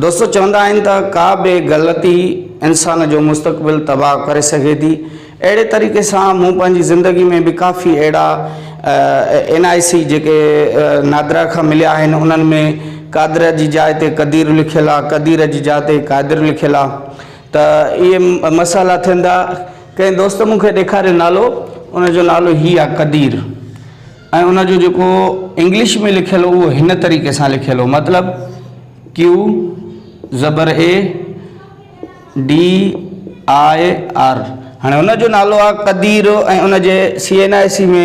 دوستو چوندا آهن ته ڪا به غلطي انسان جو مستقبل تباهه ڪري سگهي ٿي اهڙي طريقي سان مون پنهنجي زندگي ۾ به ڪافي اهڙا اين آء سي جيڪي نادرا کان مليا آهن انهن ۾ قادر جي جاء تي قدير لکيل آهي قدير جي جاء تي قادر لکيل آهي ته اهي مسئلا ٿين ٿا ڪنهن دوست مون کي ڏيکاريو نالو ان جو نالو هي آهي قدير ۽ ان جو جيڪو انگلش ۾ لکيل هو اهو هن طريقي سان لکيل هو مطلب Q زبر A D I R هاڻي ان جو نالو آهي قدير ۽ ان جي سي اين آء سي ۾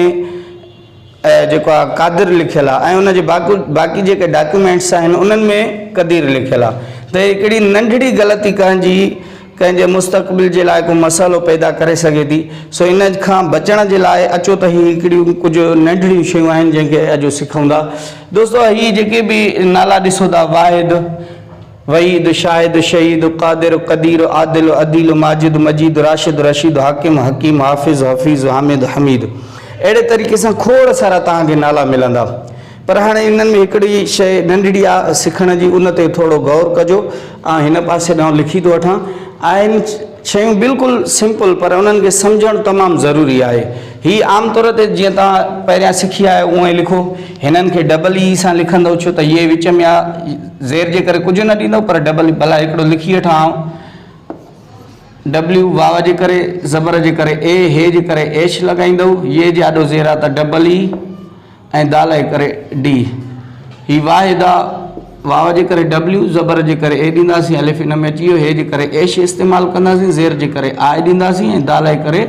جيڪو آهي قادر لکيل آهي ۽ ان جي باقي باقي جيڪي ڊاڪيومينٽس آهن انهن ۾ قدير لکيل آهي ته هي ڪهڙي ننڍڙي غلطي ڪنهن جي ڪنهن جي مستقبل جي لاء ڪو مسئلو پيدا ڪري سگهي ٿي سو ان کان بچڻ جي لاء اچو ته هي هڪڙيون ڪجهه ننڍڙيون شيون آهن جن کي اڄ سکون ٿا دوستو هي جيڪي به نالا ڏسو ٿا واحد وحيد شاهد شهيد قادر قدير عادل عديل ماجد مجيد راشد رشيد حاڪم حڪيم حافظ حفيظ حامد حميد اهڙي طريقي سان کوڙ سارا توهان کي نالا ملندا پر هاڻي انهن ۾ هڪڙي شيء ننڍڙي آ سکڻ جي ان تي ٿورڙو غور ڪجو آئون هن پاسي ڏانهن لکي ٿو وٺان آهن شيون بلڪل سمپل پر انهن کي سمجهڻ تمام ضروري آهي هي عام طور تي جيئن توهان پهريان سکي آيا آهيو اونئين لکو هنن کي ڊبل اي سان لکندئو ڇو ته هيء وچ ۾ آ زير جي ڪري ڪجهه نه ڏيندئو پر ڊبل ڀلا هڪڙو لکي وٺان آئون ڊبليو واو جي ڪري زبر جي ڪري اي هي جي ڪري ايش لڳائيندئو يي جي آڏو زير آ ته ڊبل اي ۽ د لئه ڪري ڊي. هي واء ادا واو جي ڪري ڊبليو، زبر جي ڪري اي ڏينداسين، الف ان ۾ اچي ويو، هي جي ڪري ايش استعمال ڪنداسين، زير جي ڪري آء ڏينداسين ۽ د لئه ڪري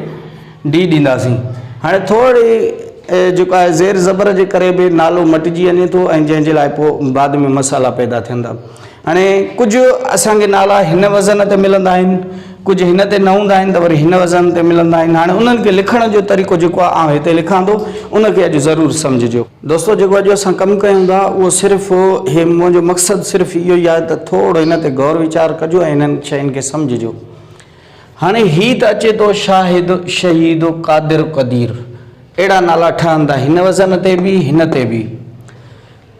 ڊي ڏينداسين. هاڻي ٿورڙي جيڪو آهي زير زبر جي ڪري به نالو مٽجي وڃي ٿو ۽ جنهن جي لاء پوء بعد ۾ مسئلا پيدا ٿين ٿا. هاڻي ڪجهه اسان کي نالا هن وزن تي ملندا آهن، ڪجهه هن تي نه هوندا آهن ته وري هن وزن تي ملندا آهن. هاڻي انهن کي لکڻ جو طريقو جيڪو آهي آئون هتي لکان ٿو ان کي اڄ ضرور سمجهجو. دوستو جيڪو اڄ اسان ڪم ڪيون ٿا اهو صرف هي منهنجو مقصد صرف اهو ئي آهي ته ٿورڙو هن تي غور ويچار ڪجو ۽ هنن شين کي سمجهجو. هاڻي هي ته اچي ٿو شاهد، شهيد، قادر، قدير اهڙا نالا ٺهندا هن وزن تي به هن تي به.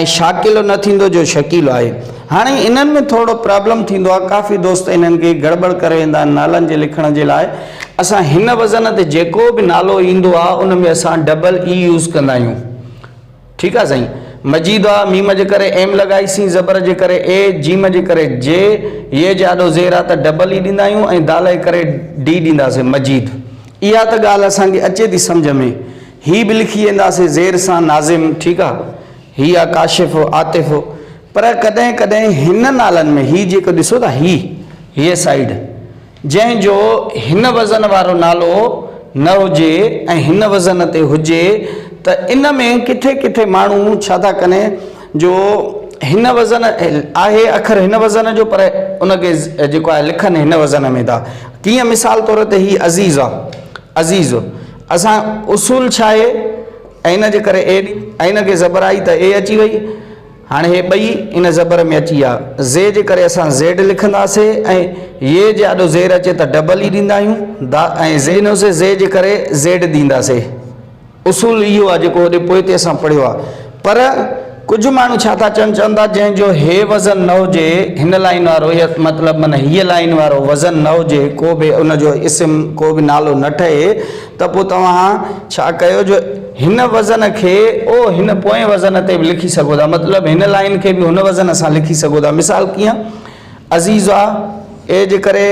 ۽ شاڪيلو نه ٿيندو جو شڪيلو آهي هاڻي انهن ۾ ٿورڙو پرابلم ٿيندو آهي ڪافي دوست انهن کي گڙٻڙ ڪري ويندا آهن نالن جي لکڻ جي لاء اسان هن وزن تي جيڪو به نالو ايندو آهي ان ۾ اسان ڊبل اي يوز ڪندا آهيون ٺيڪ آهي سائين مجيد آ ميم جي ڪري ايم لڳائي سين زبر جي ڪري اي جيم جي ڪري جي يي جي آڏو زير آ ته ڊبل اي ڏيندا آهيون ۽ دال جي ڪري ڊي ڏينداسين مجيد اها ته ڳالهه اسان کي اچي ٿي سمجهه ۾ هي به لکي وينداسين زير سان ناظم ٺيڪ آ هي آ ڪاشف عاطف پر ڪڏهن ڪڏهن هن نالن ۾ هي جيڪو ڏسو ٿا هي هيء سائيڊ جنهن جو هن وزن وارو نالو نه هجي ۽ هن وزن تي هجي ته ان ۾ ڪٿي ڪٿي ماڻهو ڇا ٿا ڪن جو هن وزن آهي اکر هن وزن جو پر ان کي جيڪو آهي لکن هن وزن ۾ ٿا تيئن مثال طور تي هي عزيز آ عزيز اسان اصول ڇا اي ۽ ان جي ڪري اي ڏي ۽ ان کي زبر آئي ته اي اچي وئي هاڻي هي ٻئي ان زبر ۾ اچي آ زي جي ڪري اسان زيڊ لکندا سي ۽ يي جي آڏو زير اچي ته ڊبل اي ڏيندا آهيون دا ۽ زي ڏنو سي زي جي ڪري زيڊ ڏيندا سي اصول اهو آ جيڪو هوڏي پوئتي اسان پڙهيو آ. پر ڪجهه ماڻهو ڇا ٿا چون چون ٿا جنهن جو هي وزن نه هجي هن لائين وارو هي مطلب من هيء لائين وارو وزن نه هجي ڪو به ان جو اسم ڪو به نالو نه ٺهي ته پوء توهان ڇا ڪيو جو هن وزن کي او هن پوئين وزن تي به لکي سگهو ٿا مطلب هن لائين کي به هن وزن سان لکي سگهو ٿا مثال ڪيئن عزيزا، اي جي ڪري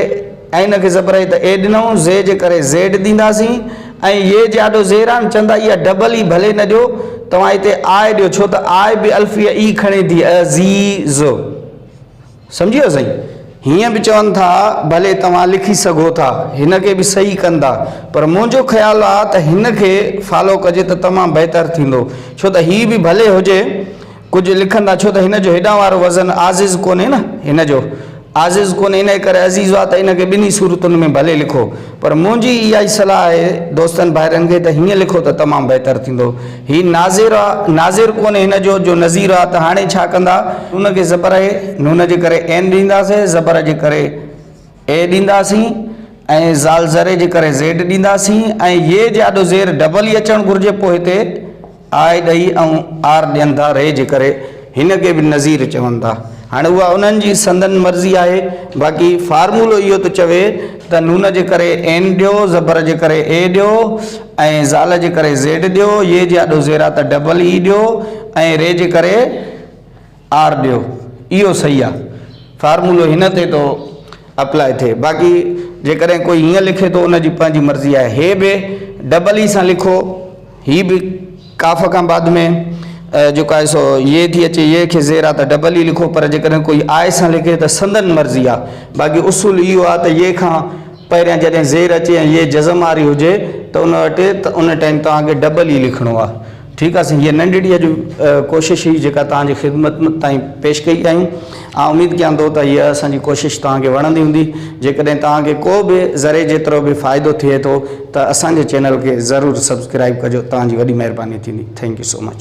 عين کي زبر اي ته اي ڏنئون، زي جي ڪري زيڊ ڏينداسين ۽ يي جي آڏو زيران چندا اها ڊبل ئي ڀلي نه ڏيو، توهان اتي آء ڏيو ڇو ته آء به الفيء ئي کڻي ٿي عزيز. سمجهي ويو سائين؟ هيئن به چون ٿا ڀلي توهان لکي سگهو ٿا، هن کي به صحيح ڪندا، پر منهنجو خيال آ ته هن کي فالو ڪجي ته تمام بهتر ٿيندو ڇو ته هي به ڀلي هجي، ڪجهه لکن ٿا ڇو ته هن جو هيڏانهن وارو وزن عازز ڪونهي نه هن جو عازز ڪونهي انهي ڪري عزيز آ ته ان کي ٻنهي صورتن ۾ ڀلي لکو پر منهنجي اها ئي صلاح آهي دوستن ڀائرن کي ته هيئن لکو ته تمام بهتر ٿيندو هي ناظر آ ناظر ڪونهي هن جو جو نظير آ ته هاڻي ڇا ڪندا نون کي زبر اي نون جي ڪري عين ڏينداسين زبر جي ڪري اي ڏينداسين ۽ زال زري جي ڪري زيڊ ڏينداسين ۽ يي جي آڏو زير ڊبل ئي اچڻ گهرجي پوء هتي آء ڏئي ۽ آر ڏين ٿا ري جي ڪري هن کي به نذير چون ٿا هاڻي اها انهن جي سندن مرضي آهي باقي فارمولو اهو ٿو چوي ته نون جي ڪري اين ڏيو زبر جي ڪري اي ڏيو ۽ زال جي ڪري زيڊ ڏيو يي جي آڏو زيرا ته ڊبل اي ڏيو ۽ ري جي ڪري آر ڏيو اهو صحيح آ فارمولو هن تي ٿو اپلائي ٿئي باقي جيڪڏهن ڪوئي هيئن لکي ٿو ان جي پنهنجي مرضي آهي هي به ڊبل اي سان لکو هي به ڪاف کان بعد ۾ جيڪو آهي سو يه ٿي اچي يه کي زير آ ته ڊبل اي لکو پر جيڪڏهن ڪوئي آء سان لکي ته سندن مرضي آ باقي اصول اهو آ ته يه کان پهريان جڏهن زير اچي ۽ يه جزم واري هجي ته ان وٽ ان ٽائيم توهان کي ڊبل اي لکڻو آ ٺيڪ آ سائين هيء ننڍڙي اڄ ڪوشش هئي جيڪا توهان جي خدمت تائين پيش ڪئي آهيون آئون اميد ڪيان ٿو ته هيء اسان جي ڪوشش توهان کي وڻندي هوندي جيڪڏهن توهان کي ڪو به ذري جيترو به فائدو ٿئي ٿو ته اسان جي چينل کي ضرور سبسڪرائيب ڪجو توهان جي وڏي مهرباني ٿيندي ٿينڪ يو سو مچ.